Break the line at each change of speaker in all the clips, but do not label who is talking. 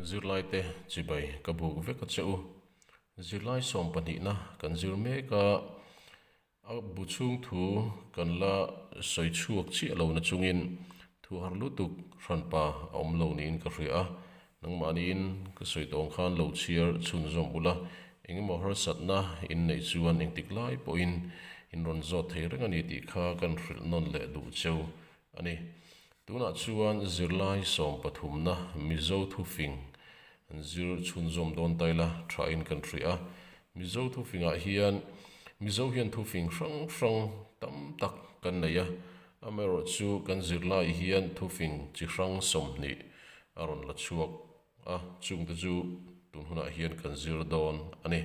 Zirlaite chibai ka buk vek a che u. Zirlai sawm pahnihna kan zir mek a, a bu chhung thu kan la sawi chhuak chiah lo na chungin thu har lutuk hranpa a awm lo niin ka hria a, nangmah niin ka sawi tawng khan lo chhiar chhunzawm ula, engemaw harsatna in neih chuan engtik lai pawhin in rawn zawt thei reng a ni tih kha kan hrilh nawn leh duh cheu a ni. Tunah chuan zirlai sawm pathumna Mizo Thufing an zir chhunzawm dawn ta ila, tha in kan hria a. Mizo Thufingah hian Mizo hian Thufing hrang hrang tam tak kan nei a, amaherawh chu kan zirlai hian Thufing chi hrang sawmhnih a rawn la chhuak a, chungte chu tunhunah hian kan zir dawn a ni.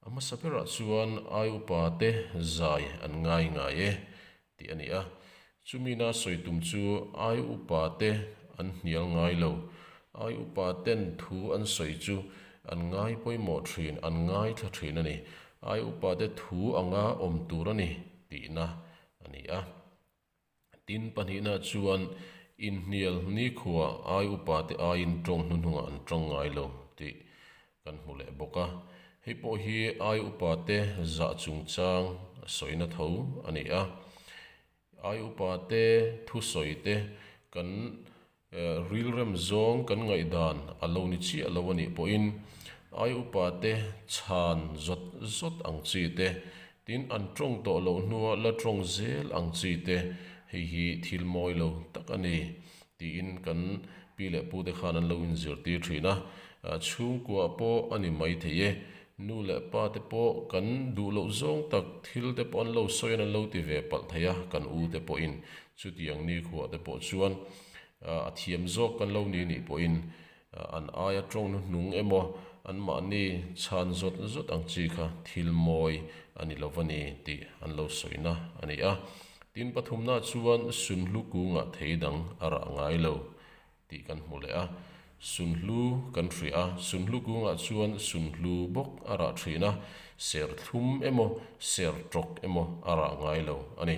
A hmasa berah chuan ai upa te zai an ngai ngai e tih a ni a, chumina sawi tum chu ai upa te an hnial ngai lo, ai upa ten thu an sawi chu an ngai pawimawh thin, an ngai thla thin a ni, ai upa te thu anga awm tur a ni tihna a ni a. Tin, pahnihna chuan inhnial nikhua ai upa te aiin ṭawng hnuhnungah an ṭawng ngai lo tih kan hmu leh bawk a. Hei pawh hi ai upa te zah chungchang sawina tho a ni a. Ai upa te thusawi te kan Rilrem zawng kan ngaihdan a lo ni chiah lo a nih pawhin ai upa te chhan zawt zawt ang chi te, tin an tawng tawh loh hnua la tawng zel ang chi te hei hi thil mawi lo tak a ni, tiin kan pi leh pute khan an lo inzirtir thin a. Chhungkuah pawh a ni maithei e, nu leh pa te pawh kan duh loh zawng tak, thil te pawh an lo sawi a, an lo ti ve palh thei a kan u te pawhin. Chuti ang nikhua te pawh chuan a thiam zawk kan lo ni nih pawhin an aia tawng nuhnung emaw anmahni chhan zawt zawt ang chi kha thil mawi a ni lo va ni tih an lo sawi na a ni a. Tin pathumna chuan Sunhlu kungah thei dang a rah ngai lo tih kan hmu leh a, sun hlu kan hria a, sun hlu kungah chuan sun hlu bawk a rah thin a, serthlum emaw sertawk emaw a rah ngai lo a ni.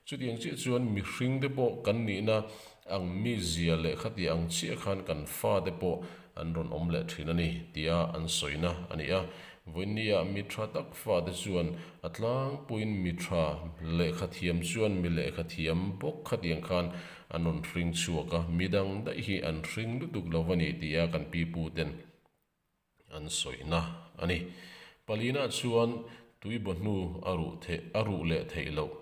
Chutiang chiah chuan mihring te pawh kan nihna ang mi zia leh khatia ang chiah khan kan fa te pawh an rawn awm leh thin a ni tia an sawina a ni a. Vawinia mi tha tak fa te chuan a tlangpuiin mi tha leh khathiam chuan mi leh khathiam bawk khatiang khan An rawn hring chhuak a, mi dang daih hi an hring lutuk lo va ni tih a kan pi pu ten an sawihna a ni. Palina chuan tui bawhnu a ruh theih a ruh leh theih loh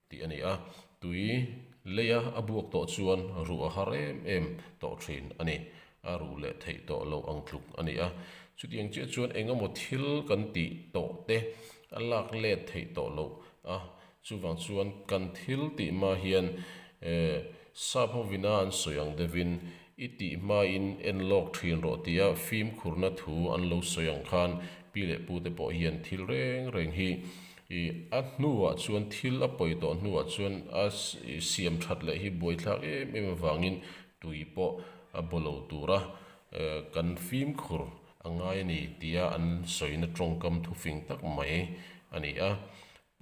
tih a ni a, tui leia a buak tawh chuan ruh a har em em tawh thin a ni. A ruh leh theih tawh lo ang tluk a ni a. Chutiang chiah chuan engemaw thil kan tih tawh te a lak let theih tawh loh a, Chuvang chuan kan thil tih hma hian eh Sap ho vina an sawi ang devin i tih hmain en lawk thin rawh tia fimkhurna thu an lo sawi ang khan Pi leh Pu te pawh hian thil reng reng hi i a hnuah chuan thil a pawi tawh hnuah chuan a siam that leh hi buaithlak em em avangin tui pawh a baw lo tura eh kan fimkhur a ngai a ni tia an sawina tawngkam thufing tak mai a ni a.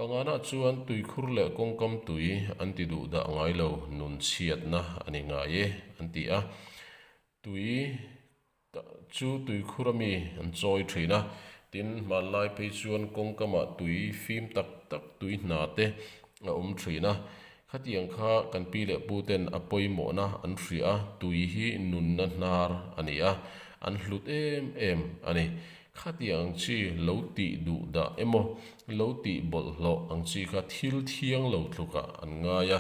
Panganah chuan tuikhur leh kawngkam tui an ti duh dah ngai lo nun chhiatna a ni ngai e an ti a. Tui chu tuikhur ami an chawi thin a, tin, hmanlai phei chuan kawngkamah tui fim tak tak tui hna te a awm thin a. Khatiang kha kan pi leh pu ten a pawimawhna an hria a, tui hi nunna hnar a ni a, an hlut em em a ni. Khatiang ang chi lo tih duh dah emaw, lo tih bawlhhlawh ang chi kha thil thiang lo tlukah an ngai a,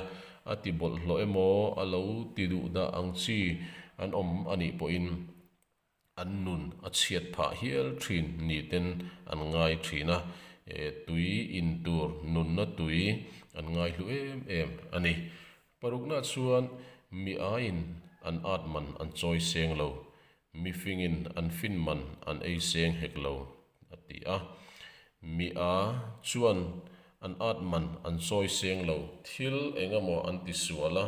a ti bawlhhlawh emaw, a lo ti duh dah ang chi an awm a nih pawhin, an nun a chhiat phah hial thin nihten an ngai thin a, tui in tur nunna tui an ngai hlu em em a ni. Parukna chuan mi aiin an at man an chawi seng lo, mifingin an fin man an ei seng hek lo. a ti a. Mi a chuan an at man an sawi seng lo, thil engemaw an ti sual a,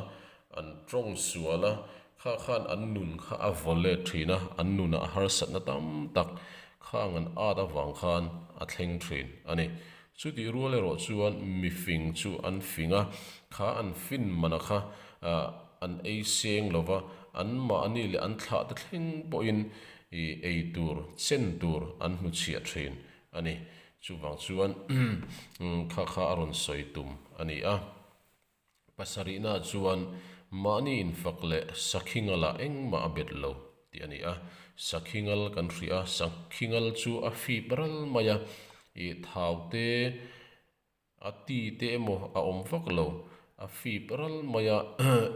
an tawng sual a, kha khan an nun kha a vawl let thin a, an nuna harsatna tam tak khang an at avang khan a thleng thin a ni. Chutih rual erawh chuan mi fing chu an fing a, kha an fin man a kha an ei seng lo va, anmahni leh an thlah te thleng pawhin i ei tur, chen tur an hmu chhiah thin a ni. Chuvang chuan kha kha a rawn sawi tum a ni a. Pasarihnah chuan mahni infak leh sakhi ngalah engmah a bet lo tih a ni a. Sakhi ngal kan hria a, sakhi ngal chu a fip ral mai a, i thaute A ti te emaw a awm vak lo. A fip ral mai a,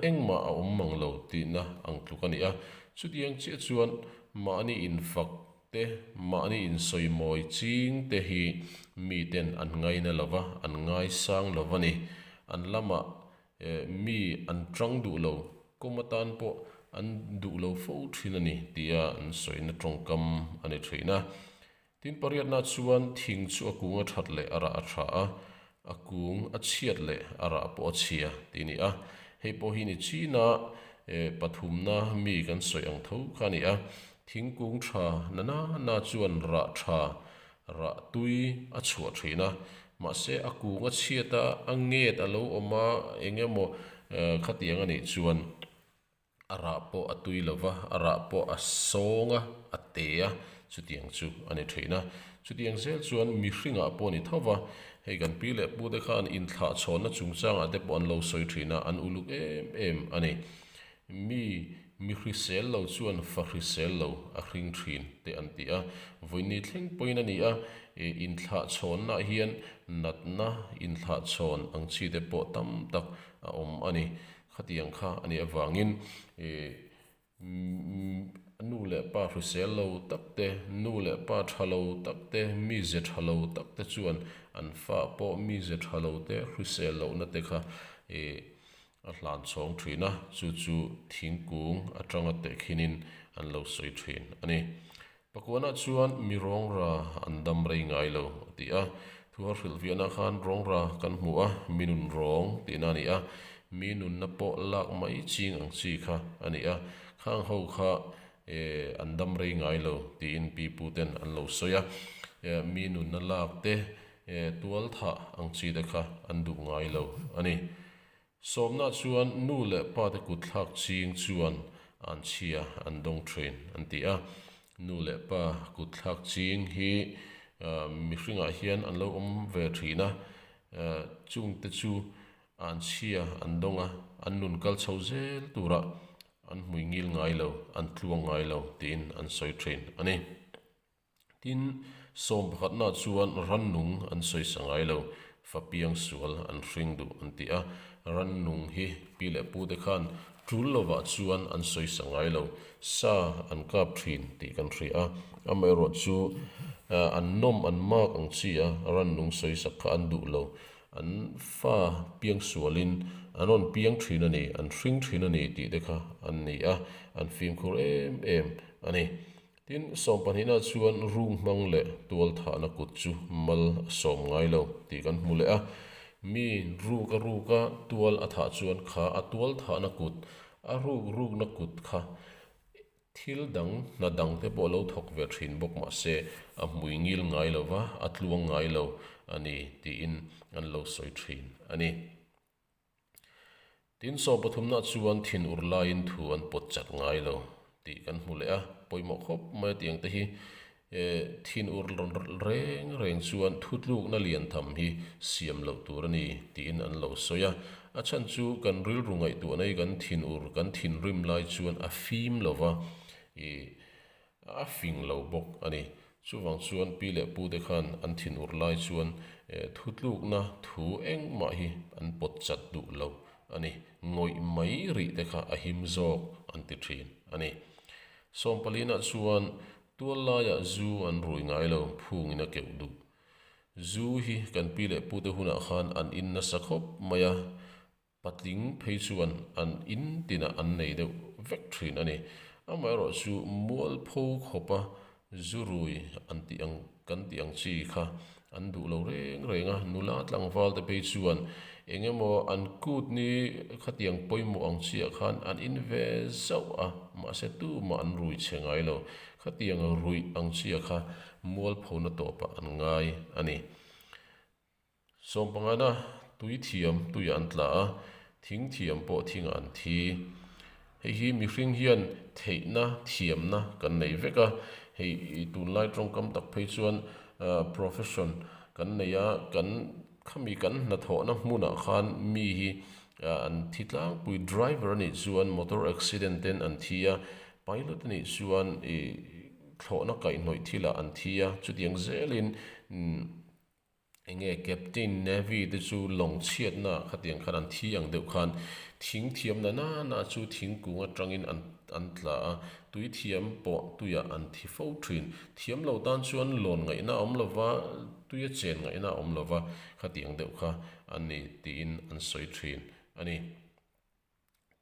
engmah a awm mang lo tihna ang tluk a ni a. Chutiang chiah chuan mahni infak te, mahni insawi mawi ching te hi miten an ngaina lo va, an ngai sang lo va ni. An lamah mi an ṭang duh lo, kawm atan pawh an duh lo fo ṭhin a ni tia an sawina ṭawngkam a ni ṭhin a. Tin pariatnaah chuan thing chu a kung a that leh a rah a tha a, a kung a chhiat leh a rah pawh a chhia tih ni a, hei pawh hi ni China pathumna mi kan sawi ang tho kha a ni a, thingkung tha na nana chuan rah tha, rah tui a chhuah thin a, mahse a kung a chhiat a, a nget a lo awm a, eng emaw khatiang a nih chuan. A rah pawh a tui lo va, a rah pawh a sawng a, a te a, chutiang chu a ni thin a. Chutiang zel chuan mihringah pawh a ni tho va, hei kan pi leh pu te khan inthlahchhawnna chungchangah te pawh an lo sawi thin a, an uluk em em a ni. Mi mihrisel lo chuan fahrisel lo a hring thin teh an ti a, vawiinni thleng pawhin a ni a, inthlahchhawnnaah hian natna inthlahchhawn ang chi te pawh tam tak a awm a ni. Khatiang kha a nih avangin i nu leh pa hrisel lo tak te, nu leh pa tha lo tak te, mi ze tha lo tak te chuan an fah pawh mi ze tha lo te, hrisel lohna te kha i a hlan chhawng thin a, chu chu thingkung atanga teh khinin an lo sawi thin a ni. Pakuanah chuan mi rawngra an dam rei ngai lo a ti a, thu a hrilh fiahna khan rawngra kan hmu a, mi nun rawng tihna a ni a, mi nunna pawh lak mai ching ang chi kha a ni a, khang ho kha eh an dam rei ngai lo tiin pi pu ten an lo sawi a, eh mi nunna lak te eh tual thah ang chi te kha an duh ngai lo a ni. Sawmnaah chuan nu leh pate kutthlak ching chuan an chhia an dawng thin an ti a. Nu leh pa kutthlak ching hi mihringah hian an lo awm ve thin a, chungte chu an chhia an dawng a, an nun kal chho zel tura an hmuingil ngai lo, an tluang ngai lo tiin an sawi thin a ni. Tin, sawm pakhatnaah chuan rannung an sawi sa ngai lo, fa piang sual an hring duh an ti a. Rannung hi pi leh pute khan tul lovah chuan an sawi sa ngai lo, sa an kap thin tih kan hria a. Amaherawh chu an nawm an mak ang chi a, rannung sawi sak kha an duh lo. An fa piang sualin an rawn piang thin a ni, an hring thin a ni tih te kha an ni a, an fimkhur em em a ni. Tin, sawmpahnihna chuan rung hmang leh tualthahna kut chu mal a sawm ngai lo tih kan hmu leh a. Mi ruk a ruk a tual a thah chuan kha a tualthahna kut, a ruk rukna kut kha thil dang, hna dang te pawh a lo thawk ve thin bawk mah se, a hmui ngil ngai lo va, a tluang ngai lo a ni tiin an lo sawi thin a ni. Tin, sawm pathumna chuan thin ur laiin thu an pawt chak ngai lo tih kan hmu leh a. Pawimawh khawp mai a tiangte hi thin ur reng reng chuan thu tlukna lian tham hi siam loh tur a ni tiin an lo sawi a. A chhan chu kan rilru ngaihtuahna hi kan thin ur, kan thinrim lai chuan a fim lova. A fing lo bawk a ni. Chuvang chuan pi leh pu te khan an thin ur lai chuan thu tlukna thu engmah hi an pawt chat duh lo a ni. Ngawih mai rih te kha a him zawk an ti thin a ni. Sawmpalina chuan tual laiah zu an rui ngai lo, phungin a keuh duh. Zu hi kan pi leh pu te hunah khan an in nasa khawp mai a. Patling phei chuan an in tinah an nei deuh vek thin a ni. Amaherawh chu mualpho khawpa zu rui an tih ang kan tih ang chi kha an duh lo reng reng a. Nula tlangval te phei chuan eng emaw an kutni khatiang pawimawh ang chiah khan an in ve zauh a, mahse tumah an rui che ngai lo. Khatiang ruih ang chiah kha mualphona tawpah an ngai a ni. Sawmpangana tui thiam tuiah an tla a, thing thiam pawh thingah an thi. Hei hi mihring hian theihna, thiamna kan nei vek a. Hei tunlai tawngkam tak phei chuan profession kan nei a, kan khami kan hna thawhna hmunah khan mi hi an thi tlangpui. Driver anih chuan motor accident ten an thi a, pilot anih chuan thlawhna kaihnawih thilah an thi a, chutiang zelin. Enge Captain Navy te chu lawng chhiatna khatiang khan an thi ang deuh khan thing thiamna nana chu thingkung atangin an an tla a, tui thiam pawh tuiah an thi fo thin. Thiam lo tan chuan lawn ngaihna a awm lo va, tuia chen ngaihna a awm lo va khatiang deuh kha an ni tiin an sawi thin a ni.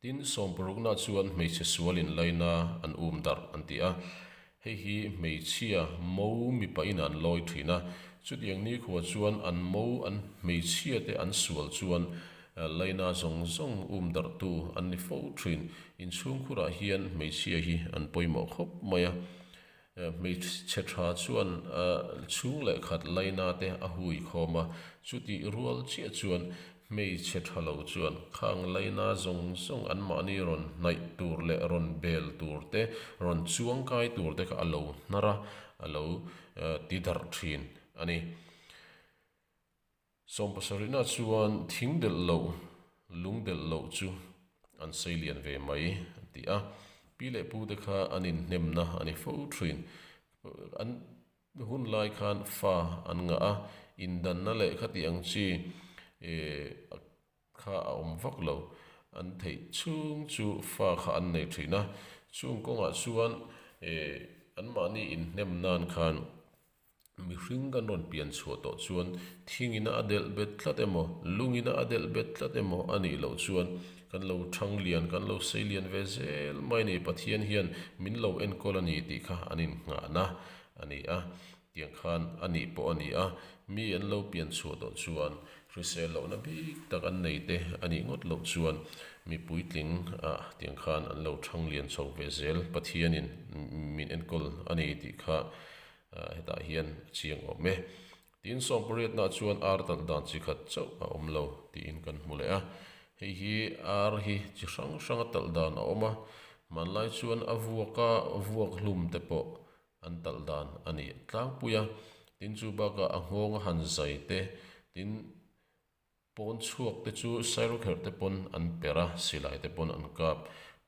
Tin, sawmpurukna chuan hmeichhe sual in laina an um darh an ti a, hei hi hmeichhia mo mipa in an lawi thin a. Chutiang nikhua chuan an mo an hmeichhia te an sual chuan laina zawng zawng um darh tu an ni fo thin. Inchhungkhur ah hian hmeichhia hi an pawimawh khawp mai a, Hmeichhe tha chuan chhung leh khat laina te a hui khawm a, chutih rual chiah chuan hmeichhe tha lo chuan khang laina zawng zawng anmahni rawn hnaih tur leh rawn bel tur te, rawn chuang kai tur te kha a lo hnar a, a lo ti darh thin a ni. Sawm pasarihna chuan thing delh loh, lung delh loh chu an sei lian ve mai a ti a. Pi leh pu te kha an inhnemna a ni fo thin. An hun lai khan fa an ngah a, indanna leh khati ang chi kha a awm vak lo. An theih chhung chu fa kha an nei thin a, chung kawngah chuan anmahni inhnem nan khan. Mihring kan rawn pian chhuah tawh chuan thingina a delh bet tlat emaw, lungina a delh bet tlat emaw a nih loh chuan kan lo thang lian, kan lo sei lian ve zel mai nei. Pathian hian min lo enkawl a ni tih kha an innghahna a ni a, tiang khan a nih pawh a ni a. Mi an lo pian chhuah tawh chuan hrisel lohna bik tak an nei te a nih ngawt loh chuan mi puitling a tiang khan an lo thang lian chho ve zel. Pathianin min enkawl a ni tih kha Hetah hian a chiang awm e. Tiin sawmpariatnaah chuan ar talh dan chi khat chauh a awm lo tiin kan hmu leh a. Hei hi ar hi chi hrang hranga talh dan a awm a, hmanlai chuan a vuaka vuak hlum te pawh an talh dan a nih tlangpui a. Tin chu bakah a nghawng a han zai te tin, Pawn chhuak te chu sairo kher te pawn an per a, silai te pawn an kap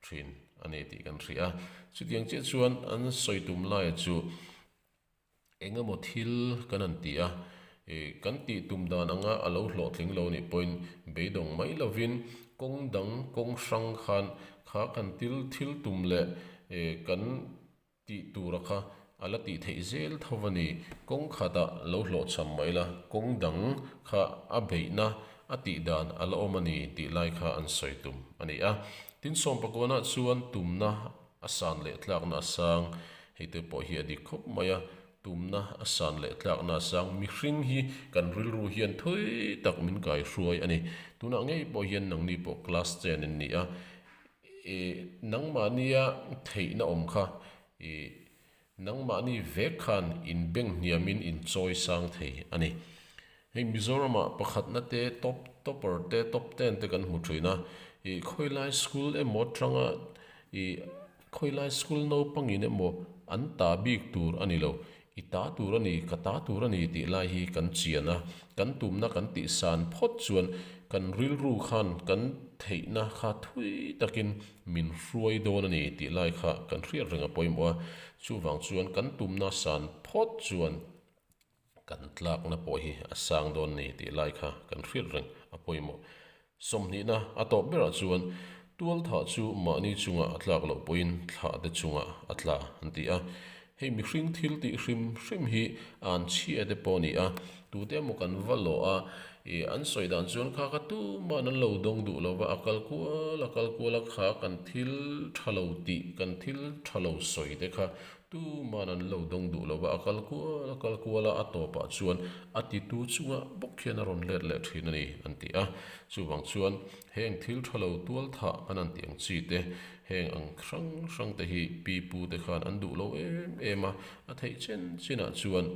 thin a ni tih kan hria. Chutiang chiah chuan an sawi tum lai chu eng emaw thil kan han ti a, kan tih tum dan anga a lo hlawhtling lo nih pawhin beidawng mai lovin kawng dang kawng hrang khan khakhan thil tum leh kan Tih tura kha a la tih theih zel tho a ni. Kawng khata lo hlawhchham mai la, kawng dang kha a beihna a tih dan a la awm a ni tih lai kha an sawi tum a ni a. Tin, Sawmpakuana chuan tumna a san leh tlakna a sang hei te pawh hi a dik khawp mai a, tumna a san leh tlakna a sang mihring hi kan rilru hian thawi tak min kaihruai a ni. Tunah ngei pawh hian nangni pawh class chen in ni a, I nangmahnia theihna awm kha i nangmahni vek khan inbenghniamin inchawisang thei a ni. Hei Mizoramah pakhatna te, top, topper te, top ten te kan hmu thin a. I khawilai school emaw atanga i khawilai school naupangin emaw an ta bik tur a ni lo. I ta tur a ni, ka ta tur a ni tih lai hi kan chian a, kan tumna kan tih san phawt chuan kan rilru khan kan theihna kha thui takin min hruai dawn a ni tih lai kha kan hriat reng a pawimawh a. Chuvang chuan kan tumna san phawt chuan kan tlakna pawh hi a sang dawn a ni tih lai kha kan hriat reng a pawimawh. Sawmhnihna a tawp berah chuan tual thah chu mahni chungah a tlak loh pawhin thlah te chungah a tla an ti a. Hei mihring thil tih hrim hrim hi a an chhia te pawh a ni a. Tute maw kan va lawh a, i an sawi dan chuan kha kha tuman an lo dawng duh lo va, a kal kual a kal kual a kha kan thil tha lo tih, kan thil tha lo sawi te kha Tu man an lo dawng duh lo va, a kal kual a kal kual a, a tawpah chuan a titu chungah bawk khian a rawn let leh thin a ni, an ti a. Chuvang chuan heng thil tha lo tual thah kan han tih ang chi te, heng ang hrang hrang te hi pi pu te khan an duh lo em em a, a theih chin chinah chuan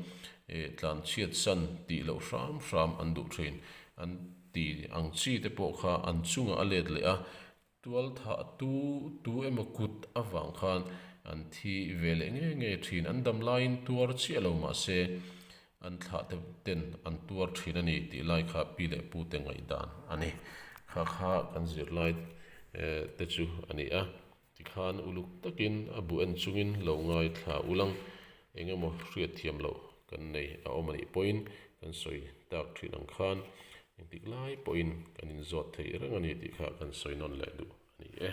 eh tlan chhiat san tih loh hram hram an duh thin, an ti ang chi te pawh kha an chungah a let leh a, Tualthahtu tu emaw kut avang khan an thi ve leh ngei ngei thin. An dam laiin tuar chiah lo mah se an thlah te ten an tuar thin a ni tih lai kha pi leh pute ngaih dan a ni. Kha kha kan zirlai te chu a ni a. Tikhan uluk takin a buh en chungin lo ngaithla ulang. Eng emaw hriatthiam loh kan nei a awm a nih pawhin kan sawi tak thin ang khan engtik lai pawhin kan inzawt theih reng a ni tih kha kan sawi nawn leh duh a ni e.